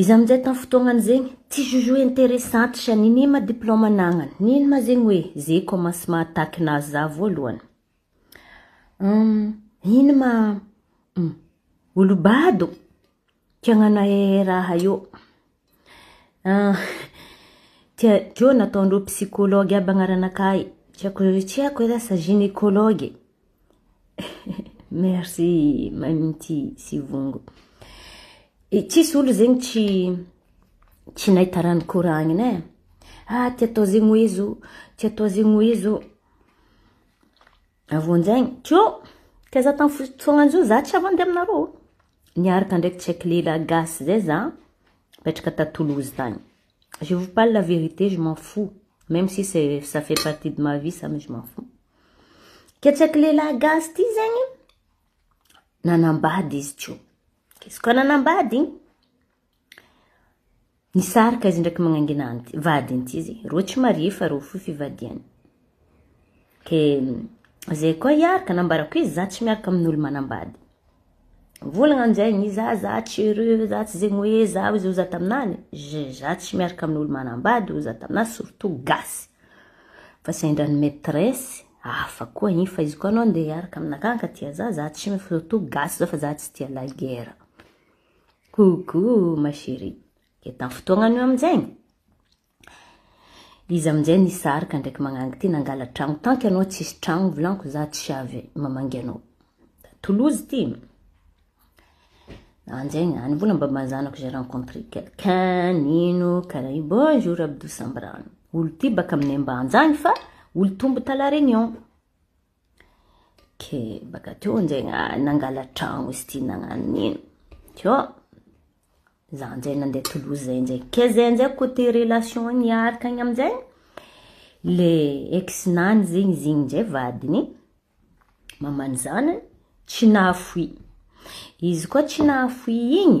Izy amin'izay tamin'ny fotoagnany zegny, tsy jugeo interessante sha nini ma diplôme anagnany, nino ma zegny hoe zay commencement attaque nahazo za voalohany. Ino ma olo bado kiagnanae raha io. Ah, dia Joe nataon'ireo psychologue aby hagnaranaka ahy. Tsy haiko hoe tsy haiko ve lasa gynécologue e. Merci Mamity sy Vongo. E tsisy olona zegny tsy tsy nahita raha nikoragnina e. Ah, ty atao zegny hoe zo, ty atao zegny hoe zo. Avy eo amin'izay, Joe, taiza tamin'ny fotoagnan'izao, za tsy hafa handeha aminareo. Niaraka ndraiky check lehilahy gasy zay za mipetraka ta Toulouse tagny. Je vous parle la vérité je m'en fous meme si c'est ça fait partie de ma vie ça mais je m'en fous. Ke check lehilahy gasy ty zegny nanambady izy teo. Izy koa nanambady Nisarika izy ndraiky magnangina anty vadiny ty izy, reo tsy marié fa reo fohy fivadiany. Ke zay koa hiaraka nambarako izy za tsy miaraka amin'olo manambady. Volagna amizay izy za za tsy heureux za tsy zegny hoe za ozy oza taminany je za tsy miaraka amin'olo manambady oza taminah surtout gasy fa sendra ny maitresse hafa koa igny fa izy koa anao nde hiaraka aminakahy ka tia za za tsy surtout gasy zao fa za tsy tia la guerre. Coucou ma chérie, dia tamin'ny fotoagna an'io amin'izegny, izy amin'izay nisarika ndraiky magnangy ty nangala tragno, tant que anao tsisy tragno volagniko za tsy avy mamangy anao, Toulouse ty, an'izegny any mbola mbamban'ny zanako j'ai rencontré quelqu'un nino karaha io, bonjour Abdou Sambrano, olo ty baka amin'ny Ambanja agny fa olo tombo ta la Réunion. ke baka teo njay nangala tragno izy ty nagnano nino teo za njay nandeha tolozy zay njay ke zay njay côté relation niaraka agny amjay le ex nany zegny izy igny njay vadiny maman'ny zanany tsy nahafoy izy koa tsy nahafoy igny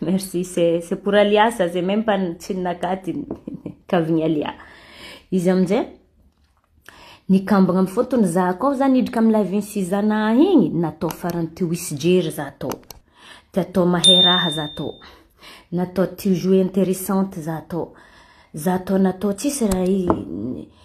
Merci, c'est c'est pour Alia ça, c'est même pas tsy ny nakady ny kavin'i Alia. Izy amin'izay ny kambagna amin'ny fotony za koa za nidrika amin'ny live-n'i Sizana igny, natao farany teo hisy jery za tao. Te atao mahay raha za tao. Natao te ho jouer intéressante za tao. Za tao natao tsisy raha i-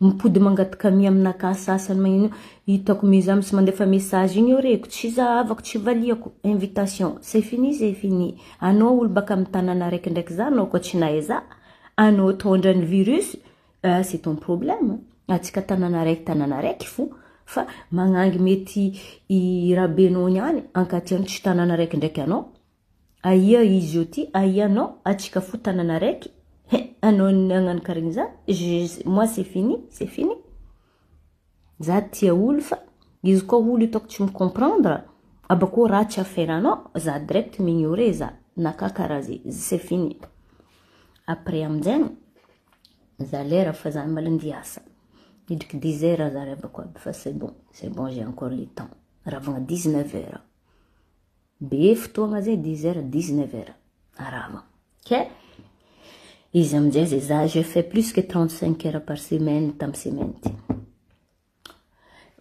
Mipody mangataka mi amina ka sasany magnino hitako mi za misy mandefa message igny eo reko tsy zahavako tsy valiako invitation c'est fini c'est fini anao olo baka am tanana raiky ndraiky za anao koa tsy nahay za anao tondra ny virus ah c'est ton problème atsika tanana raiky tanana raiky fo fa magnangy mety i rabenao niany ankatiano tsy tanana raiky ndraiky anao Aia izy eo ty aia non atsika fo tanana araiky he anao ny agnano karegny za je moi c'est fini c'est fini za tia olo fa izy koa olo itako tsy mi comprendre abakeo ratsy affaire anao za direct mi ignorer za na ka karaha ze c'est fini après aminjegny za lera fa za mbola andeha hiasa midriky dix heures za ry abako aby fa c'est bon c'est bon j'ai encore le temps ravagna dix neuf heures. Be fotoagna zay dix heures dix neuf heures arava ke izy amizay zay za j'ai fait plus que trente cinq heures par semaine tam semaine ty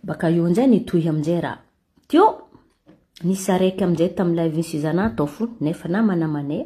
baka eo amizay nitohy amizay raha teo nisy araiky amizay tamilay vin suzana tao fony nefa namana amanay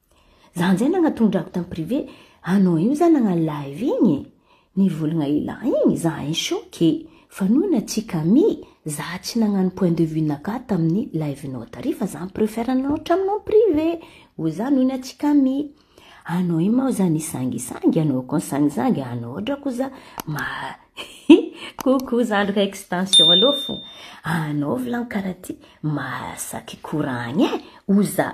Zany zay nagnatondrako tam privé anao io za nagna live igny e! Nivolagna ila igny za in choc e! Fa noho natsika mi za tsy nagnano point de vue naka taminy live nao tary fa za mi-prefer anao hatraminao am privé o za noho natsika mi anao igny mao za nisangisangy anao koa nisangisangy anao ohatra ko za ma hi coucou zandriko extension alou fo anao vilan kara ty masaky koragny e! o za.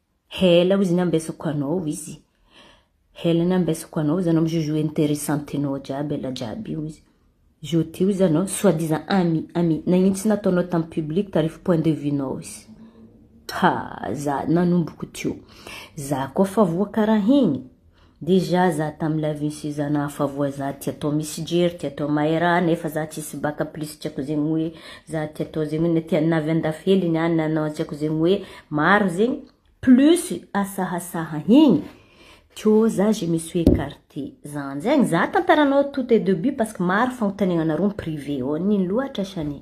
Hela hoy izy ny ambesako anao hoy izy. Hela ny ambesako anao hoy izy anao mi-joujou interessantenao jiaby ela jiaby io hoy izy. Jour ty hoy izy anao soit disant ami ami nagnino tsy nataonao tam public tarify point de vue nao izy. Ha za nanomboko teo. Za koa fa voa karaha igny. Déjà za tam live nisy zana hafa voa za tia atao misy jery tia atao maera nefa za tsisy baka plus tsy ako zegny hoe za tia atao zegny na tia na avy andafy hely ny any na na tsy ako zegny hoe maro zegny plus asahasaha igny to za je me suis ecarte zany zegny za tantaranao tout est debut parce que maro fagnontaniagnanareo en privé ô nino loatra shane.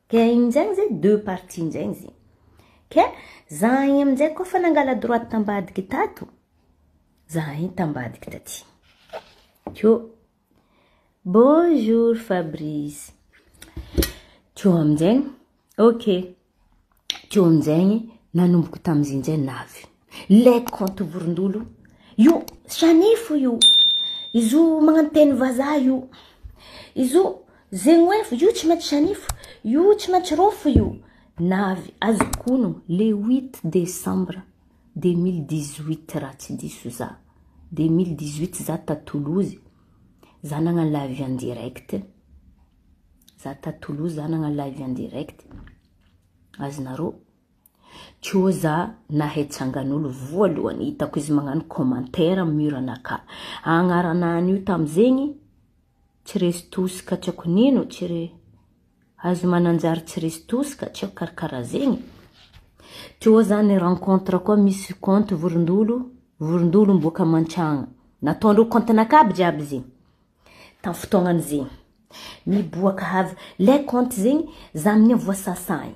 Ka igny njay amzay deux parties njay izy. Ka zah igny amzay koa fa nangala droite tambadiky tato, zah igny tambadiky taty. Ko bonjour Fabrice. Ko amzay, ok, ko amzay nanomboky tamzay njay navy. Led compte vorondolo io shanifo io izo magnano teny vazaha io izo zegnoefo io tsy maintsy shanifo io tsy maintsy rofo io navy azokono le 8 décembre 2018 raha tsy diso za 2018 za ta Toulouse za nagnano live en direct za ta Toulouse za nagnano live en direct azonareo Tjo za nahay tsanganolo voalohany hitako izy magnano commentaire am mur anaka agnarana an io tam zegny tsy resy toska tsy ako nino tsy re azy mananjary tsy resy toska tsy ako karakara zegny tjo za ny rencontre koa misy compte vorondolo vorondolo miboaka mantsagna nataondreo compte naka aby jiaby zegny tam fotoagnany zegny miboaka avy le compte zegny za amigny voasasagny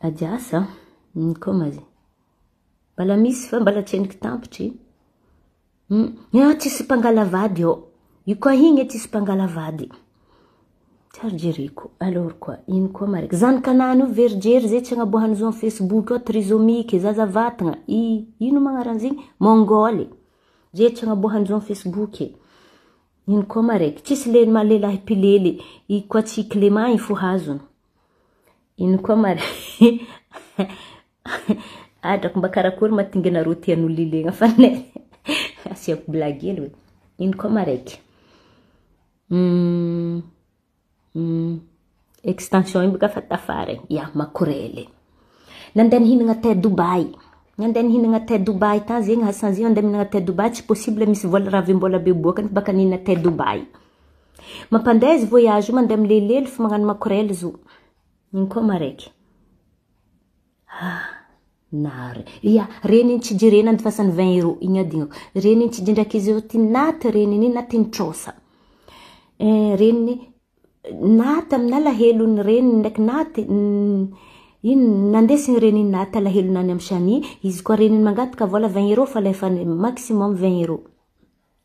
Ady asa aho. Hum koma zy. Mbala misy fa mbala tsy henoko tampitry. Hum. Eo tsisy mpangala vady eo. Io koa igny e tsisy mpangala vady. Tsy ary jereko. Alors quoi? Ino koa marika? Zanakanany io ve ry Jery zay tsy agnaboahany zo am Facebook ao trisomique, zaza vatagna. I ino magnaran'izigny? Mongole. Zay tsy agnaboahany zo am Facebook e. Ino koa marek? Tsisy le maha lehilahy mpilely. I koa tsy Clément igny fo hazony. Ino koa ma re adrako mba karakory ma tinga nareo tia an'olona ilegna fa ne asiako blague hely hoe ino koa ma raiky extension iny boka fa tafara e ya makorele nandeha nihinagna thé Dubaï nandeha nihinagna thé Dubaï tany zegny ha sanzio andeha mihinagna thé Dubaï tsy possible misy vola raha avy am-bola be boaka nefa baka nihinagna thé Dubaï. Mampandeha izy voyage io mandeha milelelo fa magnano makorel zo. Iny koa maraiky. Ah, nary. Ia, reny iny tsy jerena ny fasany 20 euros iny adignako. Reny iny tsy jindraky izy io ty naty reny iny na tiny trosa. Eh, reny naty amina alahelo ny reny ndraiky naty iny nandesy ny reny iny naty alahelo nany amin'ny shani, izy koa reny iny mangataka vola 20 euros fa alefany maximum 20 euros.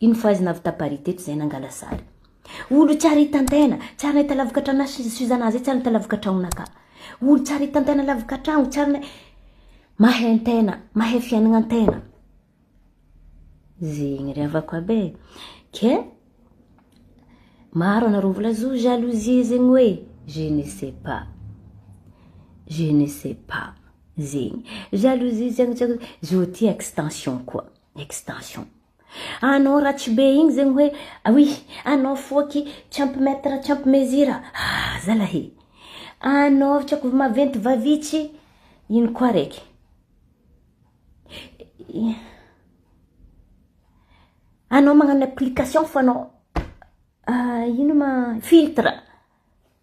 Iny fahaizana avy taparis teto izay nangala sary. Olo tsara itantaina, tsara nahita lavaka trano sy Suzana zay tsara nahita lavaka tragnona ka. Olo tsara itantaina lavaka tragno, tsara nahi-, mahay an-tegna, mahay fiainagna an-tegna. Zegny ry havako aby e, ke maro anareo mbola zo jalousie zegny hoe je ne sais pas, je ne sais pas zegny, jalousie tsy haiko tsy haiko, zo ty extension koa, extension Anao ratsy be igny zegny hoe oui anao foaky tsy ampy mètre tsy ampy mesure a! ah zalah e! anao tsy aiko maventy vavitsy ino koa raiky anao magnano application fa anao ino ma filtre.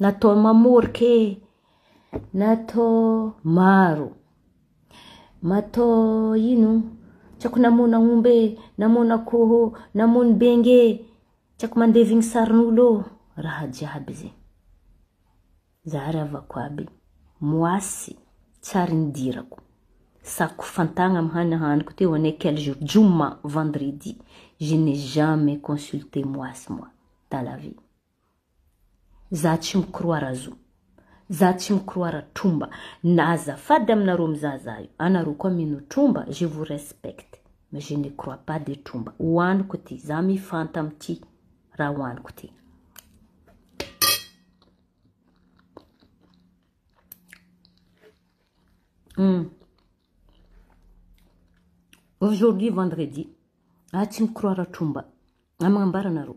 Natao mamorika e! Natao maro. Matao ino? Tsy haiko namono aomby e, namono akoho, namono bengy e, tsy haiko mandevy ny sarin'olo ô, raha jiaby ze. Zary havako aby, moasy, tsary nidirako, sako fantagna amy hany haniko teo ane quel jour? Joma, vendredi, je n'ai jamais consulté moasy moi dans la vie. Za tsy mikroara zo. Za tsy mikroara tromba na azafady aminareo mizaha za io anareo koa mino tromba je vous respecte mais je ne crois pas de tromba ho aniko ity za mifanta amty raha ho aniko ity hum aujourd'hui vendredi za tsy mikroara tromba na magnambara anareo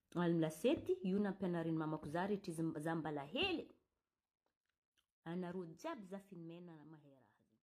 Alm lasety io nampianarin'i mamako za rehetra izy za mbala hely e! Anareo jiaby za finomena mahay raha zany.